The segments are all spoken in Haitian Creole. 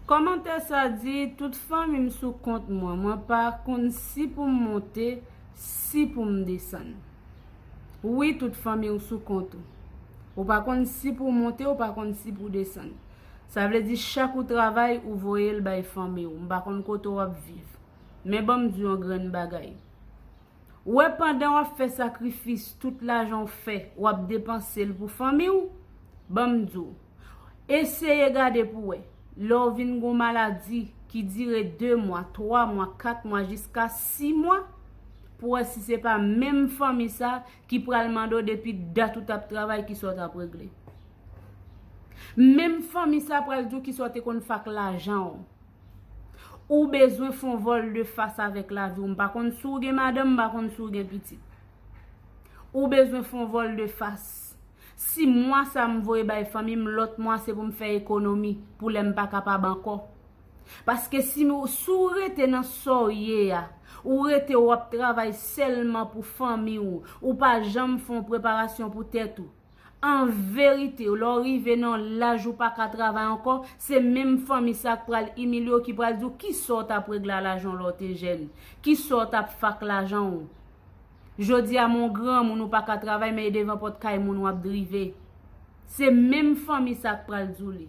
Kòmantè sa di tout fanmi m sou kont mwen, mwen pa konn si pou m monte, si pou m desann. Wi tout fanmi w sou kont ou. Ou pa konn si pou w monte, ou pa konn si pou w desann. Sa vle di chak ou travay, ou voye l bay fanmi w. M pa konn kote w ap viv. Men ban m di w yon grenn bagay. Ou wè pandan wap fè sakrifis tout lajan ou fè wap depanse l pou fanmi w banm di w eseye gade pou wè lè w vin gon maladi ki dire 2 mwa 3 mwa 4 mwa jiska 6 mwa pou wè si se pa menm fanmi sa ki pral mande w depi dat ou tap travay kisa w tap regle menm fanmi sa pral di w kisa w te konn fè ak lajan w. Ou bezwen fon vol de fas avèk la viw. M pa konn si w gen madanm, m pa konn si w gen pitit. Ou bezwen fon vol de fas. Si mwa sa m voye bay fanmi m, lòt mwa se pou m fè ekonomi pou lè m pa kapab ankò. Paske si w rete nan sa w ye a, ou rete wap travay sèlman pou fanmi w, ou pa janm fon preparasyon pou tèt ou. An verite, lè w rive nan yon laj ou pa ka travay ankò, se menm fanmi sa k pral imilye w, ki pral di w ki sa w t ap regle a lajan w lè w te jèn, ki sa w t ap fè ak lajan w. Jodi a men w granmoun ou pa ka travay men e devan pòt kay moun w ap drive. Se menm fanmi sa k pral di w li.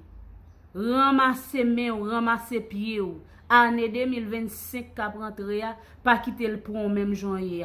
Ranmase men w, ranmase pye w. Ane 2025 k ap rantre a, pa kite l pran w menm jan w ye a.